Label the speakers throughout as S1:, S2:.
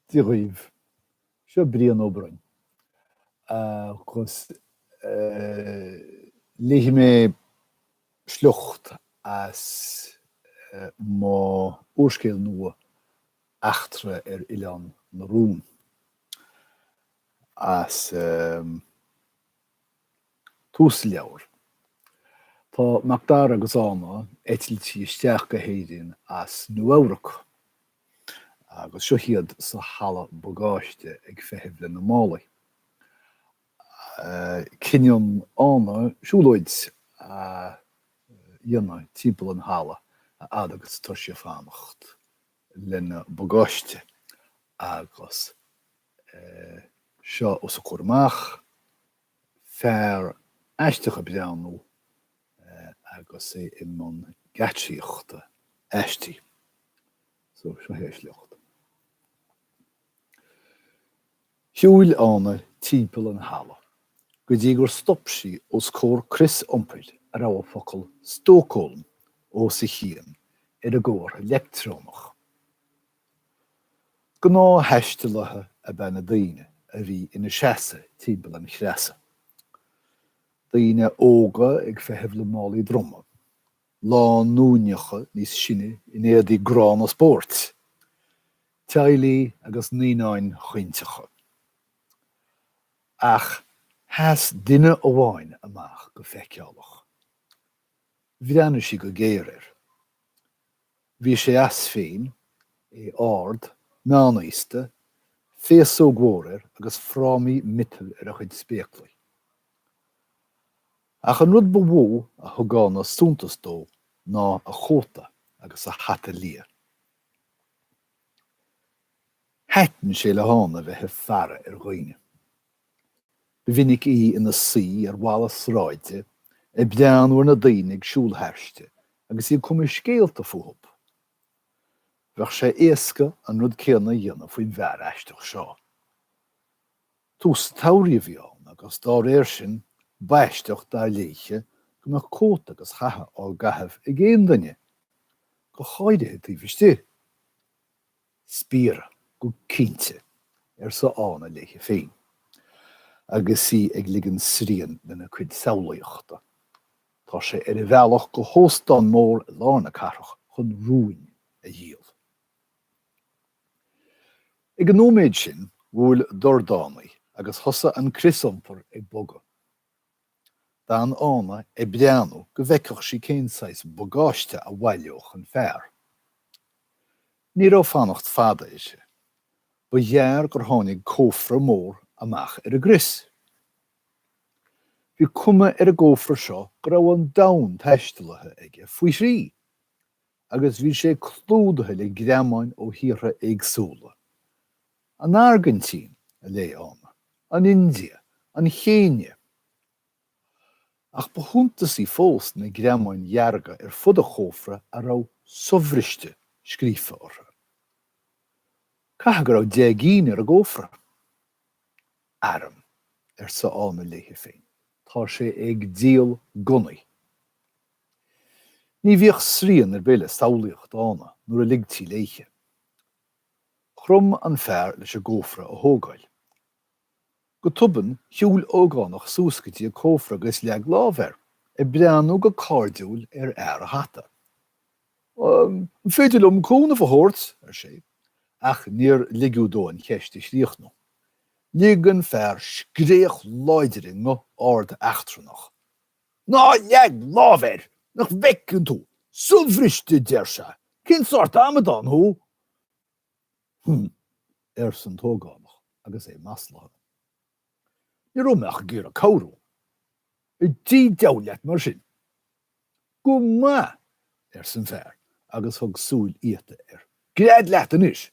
S1: Dia dhaoibh. Seo Brian Ó Broin. Agus léifidh mé sliocht as m'úrscéal nua, Eachtra ar Oileán na Rún. As. Tús an leabhair. Tá Macdara agus Ána eitilte isteach go hÉirinn as Nua-Eabhrac agus seo iad sa halla bagáiste ag feitheamh lena málaí. Cinneann Ána siúlóid a dhéanamh timpeall an halla a fhad agus atá sí ag fanacht lena bagáiste agus. seo os a comhair amach, fear aisteach ag breathnú agus é i mbun geatsaíochta aisti. So, seo é an sliocht. Shiúil Ána timpeall an halla go dtí gur stop sí os comhair crios iompair a raibh an focal Stócólm os a chionn ar an gcomhartha leictreonach. Gnáth-thaistealaithe ab ea na daoine a bhí ina seasamh timpeall an chreasa, daoine óga ag feitheamh le málaí droma, lánúineacha níos sine in éadaí gránna spóirt, teaghlaigh agus naíonáin chaointeacha. Ach sheas duine amháin amach go feiceálach. Bhreathnaigh sí go géar air. Bhí sé as féin, é ard, meánaosta, féasóg mhór air agus frámaí miotail ar a chuid spéaclaí. Ach an rud ba mhó a thug Ána suntas dó ná a chóta agus a hata liath. Thaitin sé le hÁna bheith ag faire ar dhaoine. Ba mhinic í ina suí ar bhalla sráide ag breathnú ar na daoine ag siúl thairsti agus í ag cumadh scéalta fúthu. Bheadh sé éasca an rud céanna a dhéanamh faoin bhfear aisteach seo. Tús an tsamhraidh a bhí ann agus dá réir sin, b'aisteach, dar léithe, go mbeadh cóta agus hata á gcaitheamh ag aon duine, go háirithe taobh istigh. Spiaire, go cinnte, arsa Ána léi féin, agus í ag ligean sriain lena cuid samhlaíochta. Tá sé ar a bhealach go hóstán mór i lár na cathrach chun rúin a dhíol. Ag an nóiméad sin, bhuail dordánaí agus thosaigh an crios iompair ag bogadh. d'fhan Ána ag breathnú go bhfeicfeadh sí cén saghas bagáiste a bhaileodh an fear. Ní raibh fanacht fada uirthi. Ba ghearr gur tháinig cófra mór amach ar an gcrios. Bhí cuma ar an gcófra seo go raibh an domhan taistealaithe aige faoi thrí, agus bhí sé clúdaithe le greamáin ó thíortha éagsúla. An Airgintín, a léigh Ána, an India, an Chéinia. Ach ba shuntasaí fós na greamáin dhearga ar fud an chófra a raibh 'sobhriste' scríofa orthu. Caithfidh go raibh deich gcinn ar an gcófra. Airm, arsa Ána léi féin, tá sé ag díol gunnaí. Ní bhíodh srian ar bith le samhlaíocht Ána nuair a ligtí léithe. Chrom an fear leis an gcófra a thógáil. Go tobann, shiúil ógánach suas go dtí an cófra agus leag lámh air, ag breathnú go cairdiúil ar fhear an hata. An féidir liom cúnamh a thabhairt? ar sé, ach níor ligeadh dó an cheist a chríochnú. Lig an fear scréach láidir i nguth ard eachtrannach. Ná leag lámh air! Nach bhfeiceann tú? Sobhriste, a deir sé. Cén sórt amadán thú? Hm, arsa an t-ógánach agus é maslaithe. Ní raibh mé ach ag iarraidh cabhrú. I dtigh deabhail leat mar sin. Go maith, arsa an fear agus thug súil fhíochta air. Gread leat anois!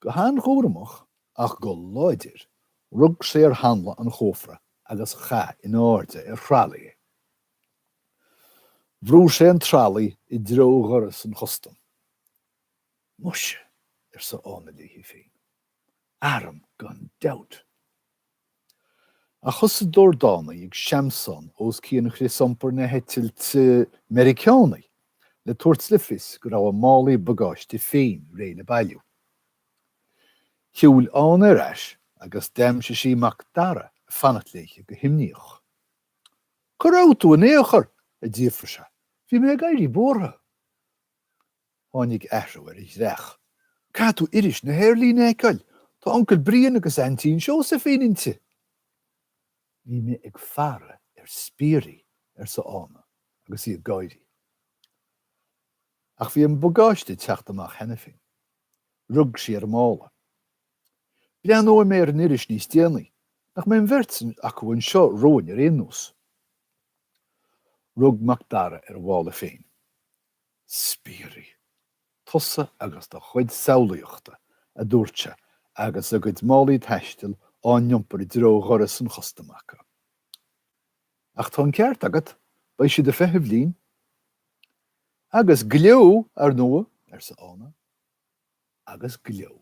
S1: Go han-chúramach ach go láidir, rug sé ar hanla an chófra agus chaith in airde ar thralaí é. Bhrúigh sé an tralaí i dtreo dhoras an chustaim. Muise, arsa Ána léi féin. Airm gan dabht! Ach thosaigh dordánaí ag seamsán os cionn chrios iompair na heitilte Meiriceánaí le tabhairt le fios go raibh a málaí bagáiste féin réidh le bailiú. Shiúil Ána ar ais agus d'aimsigh sí Mac Dara ag fanacht léi go himníoch. 'Cá raibh tú in aon chor? a d'fhiafraigh sé. 'Bhí mé ag éirí buartha. Tháinig athrú ar a dhreach. Caithfidh tú iris na haerlíne a fheiceáil. Tá Uncail Brian agus Aintín Seosaimhín inti. Bhí mé ag faire ar spiairí, arsa Ána agus í ag gáirí. Ach bhí an bagáiste ag teacht amach cheana féin. Rug sí ar a mála. Breathnóidh mé ar an iris níos déanaí. Nach mbeidh an bheirt acu anseo romhainn ar aon nós? Rug Mac Dara ar a mhála féin. spiairí. Tusa agus do chuid samhlaíochta, a dúirt sé, agus a gcuid málaí taistil á n-iompar i dtreo dhoras an chustaim acu. Ach tá an ceart agat, beidh siad ag feitheamh linn. Agus gleo, ar ndóigh! arsa Ána. Agus gleo.